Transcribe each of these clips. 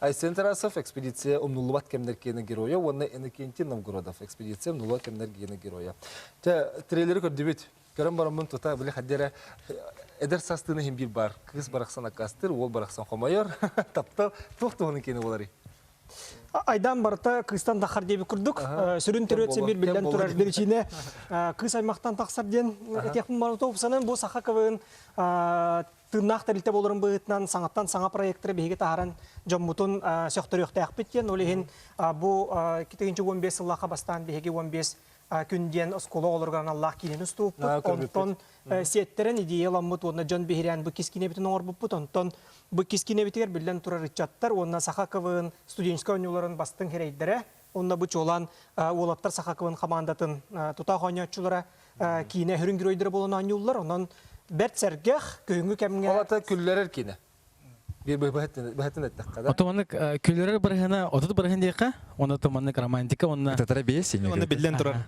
Айсен Тарасов экспедиция умнуллубат кэмнэр киэнэ геройа уонна Иннокентий Новгородов экспедиция умнуллубат кэмнэр киэнэ геройа. Тэ трелери көрдүбүт. Көрөн бараммын тута били хаддера эдэр састыны хим биир бар. Кыс барахсан аккастыр, уол барахсан хомойор. Таптал туох туһунан киэнэ болари? Айдан барыта кыстан тахар диэби курдук. Сүрүн төрөтсө бір білден турар беричине кыс аймақтан тахсар диен этиэхпин барыта ұпсанын бұл саха кывын тыыннаах тэрилтэ буоларын быһыытынан саҥаттан саҥа проектары биһиги таһааран дьоммутун сөхтөрүөхтээхпит диэн ол иһин бу тыһыынча уон биэс сыллаахха бастаан биһиги уон биэс күн диэн оскуола оҕолоругар аналлаах киинэни устууппут онтон сиэттэрэн идеяламмыт уонна дьон биһирээн бу кискинэбитин оҥорбуппут онтон бу кискинэбитигэр биллэн турар ыччаттар уонна саха КВН студенческай оонньууларын бастыҥ хирэйдэрэ Онно бу чуолаан уолаттар саха кылын хамаандатын тутаах оонньооччулара киинэ өһүрүн геройдара буолан оонньууллар. Онон бэрт сэргэх, күһүҥҥү кэмҥэ... Олата күллэрэр киинэ. Bir быһатын эттэххэ да. Отуманнык күлөрөр бырыһына отут бырыһын диэхэ, оны отуманнык романтика онна. Татара бейс имею. Онна биллэн турар.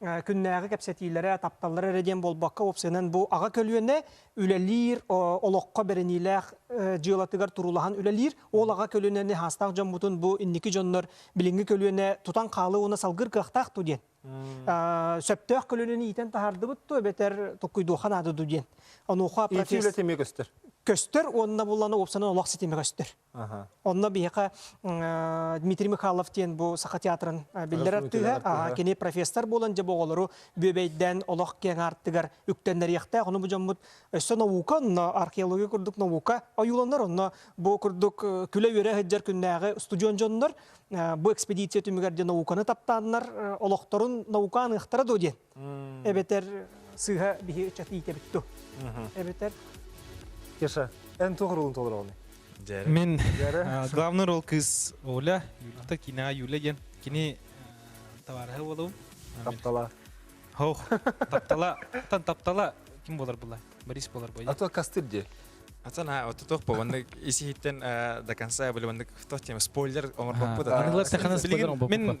күннээҕи кэпсэтиилэрэ, тапталлара эрэ диэн буолбакка, уопсайынан бу аҕа көлүөнэ үлэлиир, олоххо бэриниилээх дьыалатыгар туруулаһан үлэлиир. Ол аҕа көлүөнэни хаастаах дьоммутун бу инники дьоннор билиҥҥи көлүөнэ тутан хаалыы уонна салгыр кыахтаах дуу диэн, сөптөөх көлүөнэни иитэн таһаардыбыт дуу, эбэтэр туккуйдуохха наада дуу диэн. Онуоха профессия үлэ көстөр уонна буллана уопсанан олох ситимэ көстөр. Онно биһиэхэ Дмитрий Михайлов диэн бу Саха театрын биллэр артыыһа, кини профессор буолан дьэ бу оҕолору бүөбэйдээн олох киэҥ аартыгар үктэннэриэхтээх. Ону бу дьоммут өссө наука, онно археология курдук наука ойууланар. Онно бу курдук күлэ-үөрэ сылдьар күннээҕи студион дьоннор бу экспедиция түмүгэр диэн науканы таптааннар олохторун наука аныахтара дуо диэн эбэтэр сыыһа биһи ыччат иитэбит ту эбэтэр Кеша, эн туох ролун толороҕун? Мен главный рол кыз Оля, Юльта, кинаҕа Юля диэн кини товарыһа буолабын. Таптала. Ох, таптала, тан таптала ким болар була? Борис болар бой. А то кастыр де. Ацан а вот туох бобанны исиһиттен до конца были бандык в тот тема спойлер оңорбоппут. Мен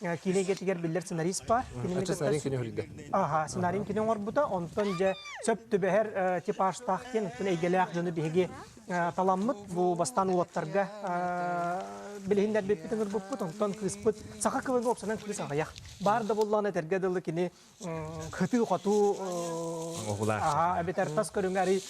киинэ эйгэтигэр биллэр сценарист баар. Кинини сценарий кини көрдө. Аха, сценарийин кини оҥорбута, онтон дьэ сөп түбэһэр типажтаах диэн, оттон эйгэлээх дьону биһиги таламмыт бу бастаан уоттарга билиһиннэрбиппит ыҥырбыппыт, онтон кыыспыт саха кылыга уопсанан кыыс аҕыйах. Баар да буоллаҕына этэргэ дылы кини кытыы-хотуу аһаа эбэтэр тас көрүҥэ арый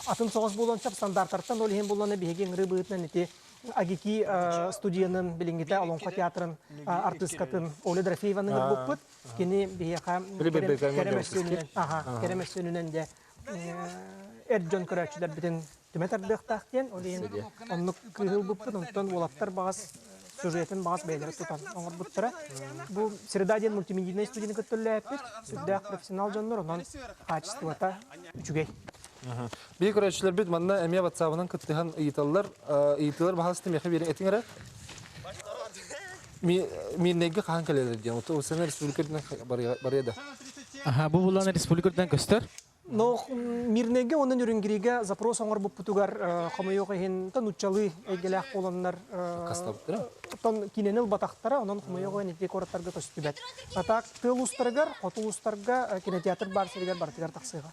атын соҕус буолуон сөп стандарттартан ол иһин буллана биһиги ыҥырыы быһыытынан ити АГИКИ студиянын билиҥҥитэ Олоҥхо театрын артыыскатын Оля Дорофееваны ылбыппыт кини биһиэхэ кэрэ мөссүөнүнэн аха кэрэ мөссүөнүнэн де эр дьон көрөөччүлэрбитин түмэ тардыахтаах диэн ол иһин оннук кыыһы ылбыппын онтон уолаттар баҕас сюжетын баҕас бэйэлэрэ тутан оҥорбуттара бу среда диэн мультимедийнай студияны көттөллөөппүт сүрдээх профессионал дьоннор онон хаачыстыбата үчүгэй биһи көрөөччүлэрбит манна эмиэ ватсабынан кыттыһан ыйыталлар ыйытыылар баһаалыста миэхэ биэриҥ этиҥ эрэ Мирнэйгэ хаһан кэлэлэр диэн, ол сэнэ республика үрдүнэн барыа да. Аха, бу булан республика үрдүнэн көстөр? Но Мирнэйгэ онон Үрүнгиригэ запрос оҥорбуппутугар хомойуох иһин нуччалыы эйгэлээх буоланнар оттон киинэни ылбатахтара онон хомойуох иһин ити куораттарга көстүбэт. А так тыал устарыгар, хоту устарга кинотеатр баар сиригэр барытыгар тахсыаҕа.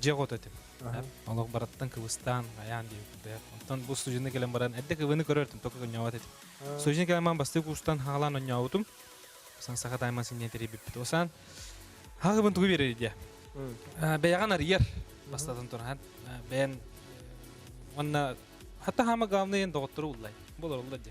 дьиэ куот этим. Олох барыттан кыбыстаан, айаан диэбиппэ. Оттон бу студияны кэлэн баран, эрдэ кыбыны көрөртүн только онньообот этим. Студияны кэлэн баран бастыы куустан хаалаан онньообутум. Сан саха тайман синньэн тэрийбиппит. Осан хаахыбын тугу биэрэр идея. Бэйэҕин арыйар бастатан туран бэйэн уонна хата хаама главный эн доҕоттору уллай. Бұл оруллар дьэ.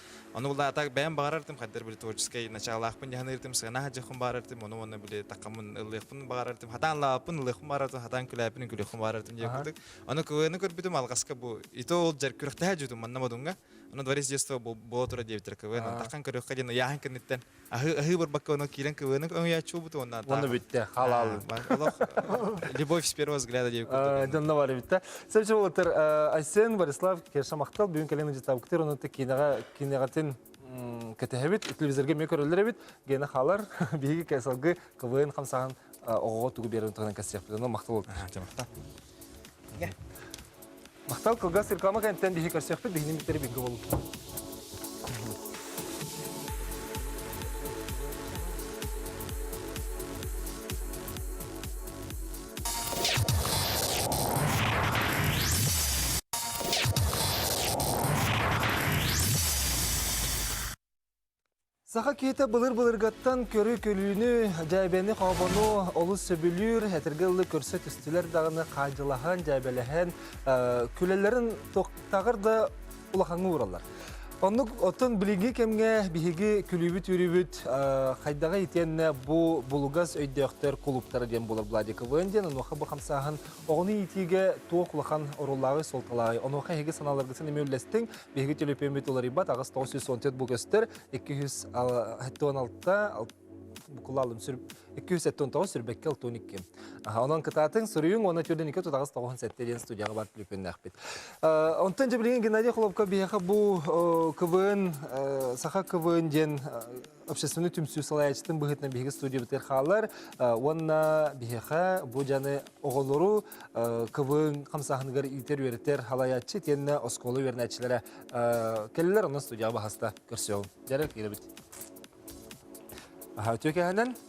Ону улаатар бэйэм баҕарартым хайдар били творческай начаалаахпын яханыыртым сыана хадьахпын баарартым ону онно били таккаммын ыллыахпын баарартым хатаан лааппын ылыахпын баарартым хатаан күлээппин күлүөхпүн баарартым дии курдук ону кыыны көрбүтүм алҕаска бу ито ол жар күрөхтэһэ жутум манна модунга ону дворец детства була тура диэбиттэр кыыын таккан көрүөххэ диэн ыйааһын кэнниттэн Аһыы аһыы барбакка оно киирэн квн өҥүйээччи буолбут уонна Уонна бүттэ, халаал. Олох любовь с первого взгляда диэбит курдук. Дьонно бар эбитте. Сөпсө болотыр Айсен Борислав Керша махтал бүгүн кэлен житабктыр онутта кинега кинегатын кэтehebит телевизорга ме көрөлөр эбит гена халар биһиги кесалгы квн хамсахан оҕоҕо тугу биэрэрин туһунан кэссиэхпит ону махтал махтал махтал кылгас реклама кэнниттэн биһи көрсүөхпүт биһини бүттери бүгү болу Саха киһитэ былыр-былыргаттан көрү-күлүүнү, дьээбэни-хообону олус сөбүлүүр, этэргэ дылы көрсө түстүлэр даҕаны хаадьылаһан, дьээбэлэһэн күлэллэрин таҕыр да улахаҥҥа уураллар. Оннук оттон билиҥҥи кэмҥэ биһиги күлүүбүт-үөрүүбүт хайдаҕа итиэннэ бу булугас өйдөөхтөр кулууптара диэн буолар Владиковын диэн онуоха бу хамсааһын оҕону иитиигэ туох улахан оруоллааҕый суолталааҕый онуоха эһиги санааларгытын эмиэ үллэстиҥ Биһиги төлөпүөммүт уларыйбат аҕыс тоҕус сүүс он төрт бу көстөр икки жүз тоҕон алта букулаалым сүр икки жүз сэттэ он тоҕус сүрбэккэ алтон икки онон кытаатыҥ суруйуҥ уонна төрдүн икки тутаҕас тоҕон сэттэ диэн студияҕа бар төлөпүөннэхпит онтон дьэ билигин геннадий холобко биһиэхэ бу квн саха квн диэн общественнай түмсүү салайаачытын быһыытынан биһиги студиябытыгар хаалар уонна биһиэхэ бу дьаны оҕолору кыбын хамсааһыныгар иитэр үөрэтэр халайааччы итиэннэ оскуола үөрэнээччилэрэ кэллилэр онно студияҕа баһаста көрсүөҕүҥ дьарык ирэбит үтүө кэһэнэн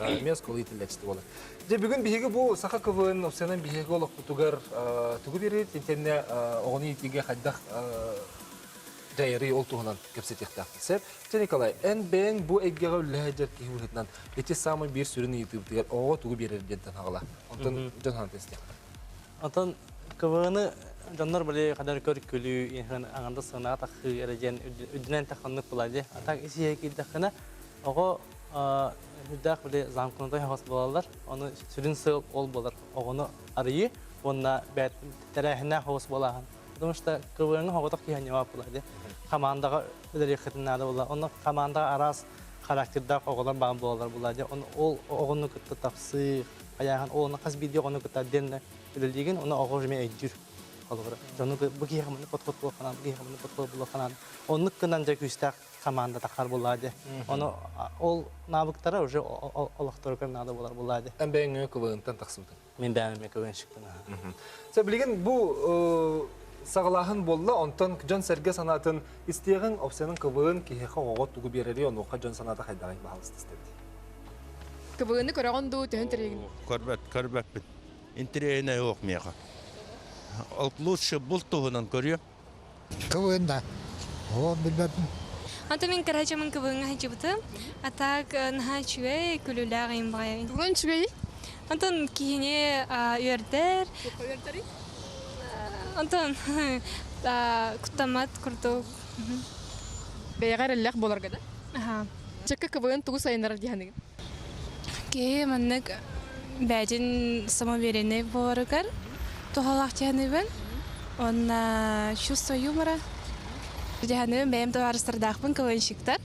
эмиэ осколитилэчти буолар. Дьэ бүгүн биһиги бу саха квн офсанан биһиги олохпутугар тугу берет интенне оҕону иитиигэ хайдах дьайарый ол туһунан кэпсэтиэхтээхпит сөп. Дьэ Николай, эн бэйэҥ бу эйгэҕэ үллэһэ дьэр киһи быһыытынан ити самый биир сүрүн ыйытыыбытыгар оҕоҕо тугу биэрэр диэн танаҕала. Онтон дьон хаан тестиэхтэр. Оттон квны дьоннор били кадar көркүлүү, инһин аңанда сынаатахыы эрэ диэн үрдүнэн таханнык булади. Атак исиһэ киирдэххинэ, Оҕо үрдээх били замкнутай хаҕыс буолаллар. Ону сүрүн сыал ол буолар оҕону арыйыы уонна тэрээһиннээх хаҕыс буолааһын. Потому что КВН оҕотох киһи ньыма буолаады. Хамаандаҕа үлэлиэххитин наада буолла. Онно хамаандаҕа араас характердаах оҕолор баан буолаллар буолаады. Ол оҕону кытта тахсыы, хайааһын оҕону хас биирдии оҕону кытта отдельно үлэлиигин, оны оҕо уже өйдүүр. Холобура, дьону бу киһи хаманы подход буол ханаан, бу киһи хаманы подход буол ханаан. Оннук гынан дьэ күүстээх команда тахсар буоллаа дии. Ону ол навыктара уже олохторугар надо болар буоллаа дии. Эн бэйэҥ КВН-тан тахсыбытыҥ. Мин бэйэм КВНщиктан. Сэ билигин бу саҕалааһын буолла, онтон дьон-сэргэ санаатын истиэҕиҥ, опсияның КВН киһиэхэ оҕоҕо тугу биэрэри, онуоха дьон санаата хайдаҕын баһалыстыстыт. КВН көрөҕүн дуу, төһөн тэрийиҥ? Көрбөт, көрбөппүн. Интириэһинэй уох миэхэ. Ол лучше булт туһунан көрүөм. Кылын да. Ол билбэппин. Ата мин кырачамын кыбыыҥа хачыбыты. Атак наһаа үчүгэй, күлүүлээх иин баҕайы. Туган үчүгэй? Антон киһини үөрдэр. Үөрдэри? Антон куттамат курдук. Бэйэҕэ эрэллээх буоларга да? Аха. Чэкка КВН тугу сайыннарар диэханыгын? Киһи маннык бэйэтин самоувереннай буоларыгар туһалаах диэханыбын. Уонна чувство юмора диэханыгын бэйэм табаарыстардаахпын КВНщиктар.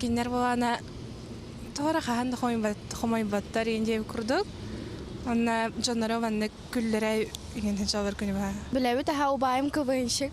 Кинилэр буолаана туора хаһан да хомойботтор иин диэбит курдук. Уонна дьонноро маннык күллэрэ иҥин дьалар күнү баха. Билэбит аха убаайым КВНщик.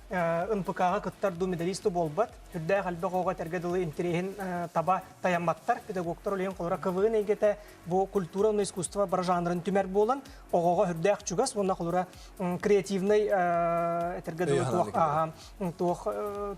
НПК-га кыттар дуу, медалист дуу буолбат. Үрдээх элбэх оҕоҕо этэргэ дылы интириэһин таба тайамматтар. Педагогтар олейин холоро КВН эйгэтэ бу культура уонна искусство бар жанрын түмэр буолан, оҕоҕо үрдээх чугас уонна холоро креативнай этэргэ дылы туох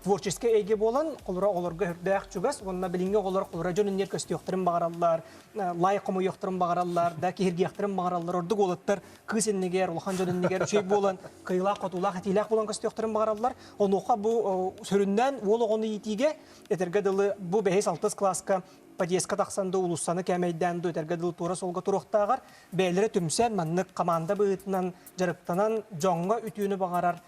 творческий эйге буолан, холоро оҕолорго үрдээх чугас уонна билиҥҥи оҕолор холоро дьон үнньэр көстүөхтэрин баҕараллар, лайк хомойуохтарын баҕараллар, да киһиргиэхтэрин баҕараллар ордук уолаттар кыыс иннигэр, улахан дьон иннигэр үчүгэй буолан, кыайыылаах-хотуулаах, этиилээх буолан көстүөхтэрин баҕараллар. Онуоха бу сөрүннээн уол оҕону иитиигэ этэргэ дылы бу бэһис-алтыс кылааска подъезка тахсан да улуссаны кээмэйдээн да этэргэ дылы туора суолга туруохтааҕар бэйэлэрэ түмсэн маннык хамаанда быһыытынан дьарыктанан дьоҥҥо үтүөнү баҕарар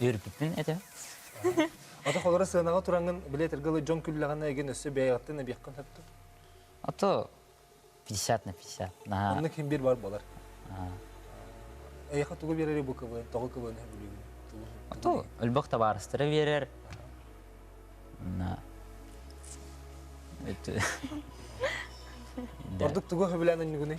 Үөрбүппүн этэ. Ата холоро сыанаҕа тураҥын билетирге ылы дьон күллэҕинэ эгин өссө бэйэҕиттэн эбиэххин сөптүк. А то 50 на 50. Наһаа. Оннук хим бир бар болар. Эйха тугу берери бу кыбы, тоҕу кыбыны билигин. А то өлбөх табаарыстара берер. Ордук тугу хөбүлән өннүгүнүй?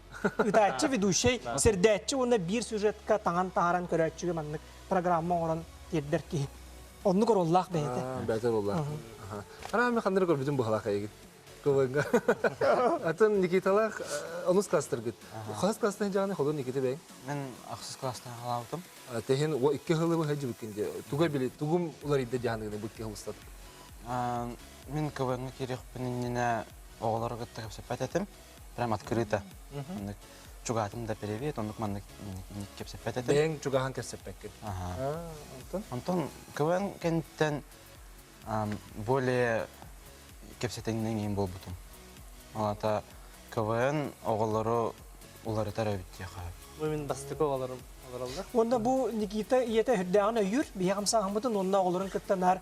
Ыытааччы, ведущай, сэрдээччи уонна биир сюжетка таҥан таһааран көрөөччүгэ маннык программа оҥорон тиэрдэр киһи. Оннук ороллоох бэйэтэ. Бэйэтэ буолла. Араам ханнык көрбүтүн быһалаах эйигин. Кылыга. Атын Никиталаах э, онус класстаргыт. Хас класстан жааны холун Никита бэйің? Мен ахсыс класстан халаабытым. Тэхин о икки хылы быһа жибиккин де. Туга били тугум уларыйда жааны быкки хылыстат. Мен квн керехпин иннинэ оҕолору кытта кепсеппет этим. прям открыто. Маннык чугаатын да перевет, оннук маннык кэпсэппэт этим. Бэйэҥ чугаһан кэпсэппэккин. Ага. Антон? Антон, КВН кэнниттэн более кэпсэтиҥнэн иин буолбутум. Алата КВН оҕолору уларытар эбит диэхэ. Бу мин бастакы оҕолорум олороллор. Онно бу Никита ийэтэ үрдээҕин өйүүр, биһиэхим сааһыммытын, онно оҕолорун кытта наар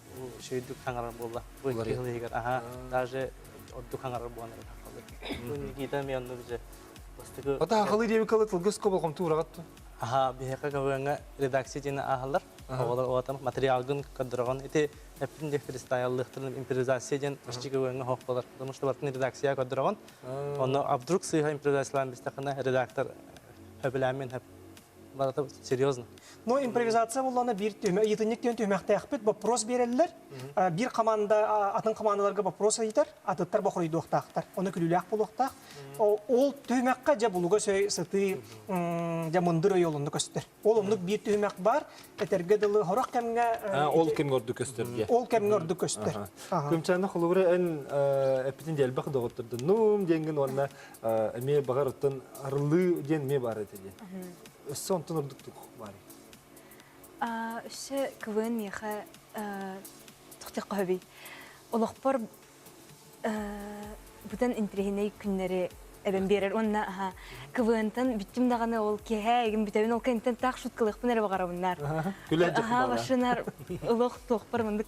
үчүгэйдик саҥарар буолла. Уларыйан иһигэр аһа даже ордук саҥарар буолан Бу Никита Мианнович бастакы Ата ахалы диэби кылы кылгыско болҕомту ураҕатты. Аха, биһиэхэ көбүөҥҥэ редакция диэн ааһаллар. Оҕолор оҕотон материалгын көрдөрөҕүн. Ити эппин диэх фристайллыахтарын импровизация диэн кичи көбүөҥҥэ хоох болар. Потому что бартын редакция көрдөрөҕүн. Онно а вдруг сыыһа импровизациялаан бистэххинэ редактор хөбүлээмин хөп Барыта серьезно. Но импровизация буллана биир түһүмэ ыйытынньык диэн түһүмэхтээхпит боппуруос биэрэллэр. Биир хамаанда атын хамаандаларга боппуруос ыйытар, атыттар бохоройдуохтаахтар. Ону күлүүлээх буолуохтаах. Ол түһүмэххэ дьэ булугас өй сытыы дьэ мындыр өй олунну көстөр. Ол оннук биир түһүмэх баар. Этэргэ дылы сорох кэмҥэ ол кэмҥэ ордук көстөр диэ. Ол кэмҥэ ордук көстөр. Күмчээнэ холобура эн эппитин дьэ элбэх доҕоттордун нуум диэҥгин уонна эмиэ баҕарыттан арылыы диэн эмиэ баар этэ диэн өссө онтон ордуктук баар өссө квн миэхэ тухтах хоһоби олохпор бутан интриһинэй күннэри эбэн биэрэр уонна аха квнтан бүттүм даҕаны ол киэһэ эгин бүтэбин ол кэнниттэн таах шуткалыахпын эрэ баҕарабыннаар күлэ аха машинар олох туохпар мындык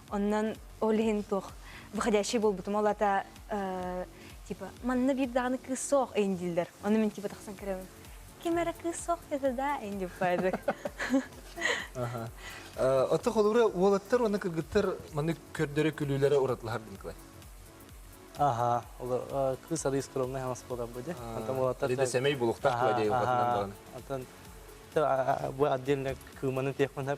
Онон ол иһин туох выходящий буолбутум ол ата типа манна биир даҕаны кыыс суох эйин дииллэр ону мин типа тахсан көрөбүн ким эрэ кыыс суох диэтэ да эйин дип баайдык Оттох олура уолаттар уонна кыргыттар маны көрдөрө күлүүлэрэ уратлаһар Николай. Ага, олор кыыс ады скромный ханас болар буде. Антам уолаттар. Рида семей булуктак куа дей охотынан даганы. Антан бу отдельно кыманы техмана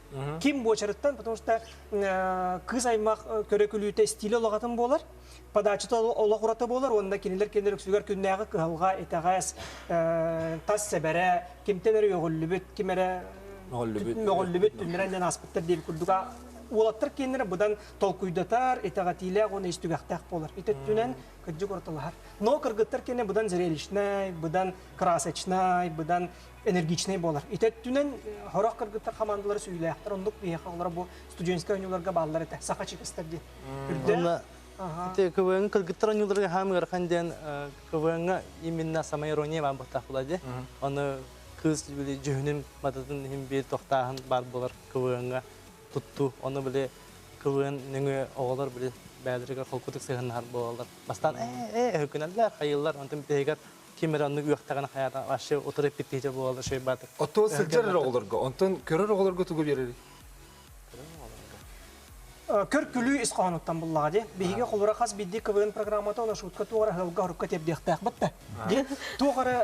Ким буочарыттан, потому что кыыс аймах көрөкүлүүтэ стиле олоҕатын буолар, подачата олох ураты буолар уонна кинилэр кинилэр үксүгэр күннээҕи кыһалҕа, итэҕэс, тас сэбэрэ, кимтэн эрэ үөҕүллүбүт, ким эрэ мөҕүллүбүт түмүрэн диэн ааспыттар диэбит курдуга уолаттар киэннэрэ быдан толкуйдатар, итэҕэтиилээх уонна истүгэхтээх буолар. Ити өттүнэн кырдьык уратылаһар. Но кыргыттар киэнэ быдан зрелищнай, быдан красочнай, быдан энергичнэй буолар. Ити өттүнэн хорох кыргыттар хамаандалары сүүйүүлээхтэр, оннук биһиэхэ олоро бу студенческай оонньууларга бааллар этэ, саха чипистэр диэн. Үрдээх. Ити КВН кыргыттар оонньууларга хаам ыарахан диэн КВН-га именно самая ирония баар баттаах була ди. Ону кыыс били дьүһүнүн мататын иһин биир тохтааһын баар болар КВН-га туттуу. Ону били КВН нөҥүө оҕолор били бэдэригэр холкутук сыһыннар буолалар. Бастаан ээ э өкүнэллэр, хайыллар, онтун биһигэр ким эрэ онно үөхтэҕин хайаата вообще утары эппиттиитэ буолар үчүгэй баатар оттон сылдьар эрэ оҕолорго онтон көрөр оҕолорго тугу биэрэрий көркүлүү ис хоһоонуттан буллаҕа дии биһиги холура хас биирдии квн программата оны шутка туох эрэ аһылга хорукка тиэрдиэхтээхбит да дии туох эрэ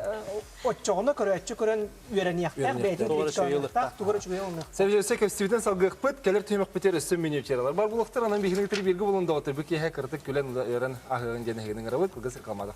оччоҕуна көрөөччү көрөн үөрэниэхтээх бэйэтин биэчтээхтээх тугара үчүгэй болунуох сэбиэсэ кэстибитин салгыахпыт кэлэр түһүмэхпитигэр өссө миниатюралар бар буолуохтар анан биһиги бииргэ булун доҕотор бу киэһэ кырытык күлэн ыыран аһыырын диэн эһигинин арабыт кылгас рекламадах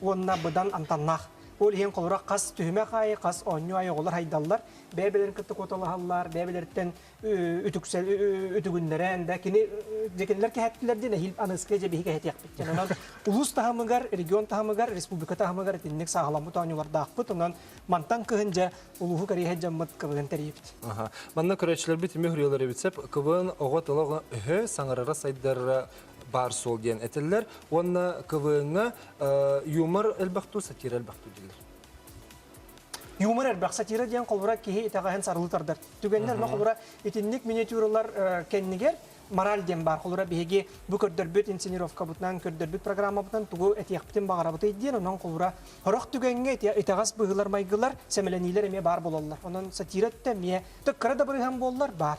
уонна быдан амтаннаах. Ол иһин холура хас түһүмэх аайы, хас оонньуу аайы оҕолор хайдаллар, бэйэ-бэйэлэрин кытта куоталаһаллар, бэйэ-бэйэлэриттэн үтүгүннэрэн, да кини дьэкинилэр кэһэттилэр диэн эһиил аныыскай дьэбиһи кэһэтиэхпит диэн. Онон улуус таһымыгар, регион таһымыгар, республика таһымыгар итинник сааһыламмыт оонньуулардаахпыт. Онон мантан кыһын дьэ улууһу кэриэһэ дьоммут кыбыһын тэрийибит. Манна көрөөччүлэрбит түмүк ырыалары эбит сеп. Кыбын оҕо тылы өһө, саҥарара сайдарара баар-суол диэн этэллэр уонна КВН-ҥа юмор элбэхтуу сатира элбэхтүү дигилэр юмор элбэх сатира диэн холбура киһи итэҕэһин сарылы тардар түгэннэр но холбура итинник миниатюралар кэннигэр мораль диэн баар холура биһиги бу көрдөрбүт инсценировкабытынан көрдөрбүт программабытынан тугу этиэхпитин баҕарабытый диэн онон холура хорох түгэҥҥэ итэҕэс быһыылар майгылар сэмэлэниилэр эмиэ баар буолаллар онон сатира эмиэ төккара дабырыһан буоллар баар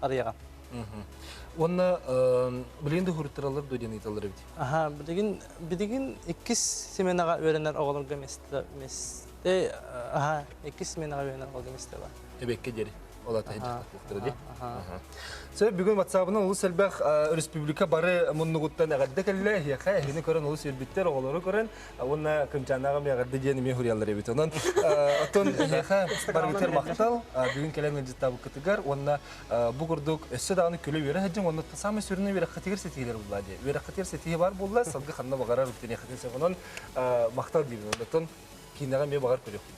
Арыяга. Уонна билигин да хуруттаралар да диэн ыйталар эбит. Аха, билигин билигин иккис сменаҕа үөрэнэр оҕолорго месте месте аха иккис сменаҕа үөрэнэр оҕолорго месте бар. Эбекке диэри ол ата хандьахтатыахтара дии. Аха. Сэ бүгүн WhatsApp-ын олус элбэх республика бары муннугуттан эҕэрдэ кэллэ. Эһиэхэ эһини көрөн олус үрбүттэр, оҕолору көрөн, уонна кынчаанааҕы миэҕэрдэ диэн эмиэ хуриялар эбит онон оттон эһиэхэ барыбытыгар махтал бүгүн кэлэн ыалдьыттаабыккытыгар уонна бу курдук өссө даҕаны күлэ үөрэ сылдьыҥ уонна саамай сүрүнэ үөрэххитигэр ситиһиилэр буллаа диэ үөрэххитигэр ситиһии баар буолла сылгы ханна баҕарар үктэниэххитин сөп онон махтал диибин оттон киинэҕэ эмиэ баҕар көрүөхпүт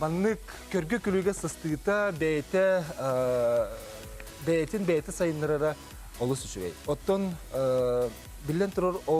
Маннык көргө-күлүгэ сыстыыта бэйэтэ бэйэтин бэйэтэ сайыннарара олус үчүгэй. Оттон биллэн турар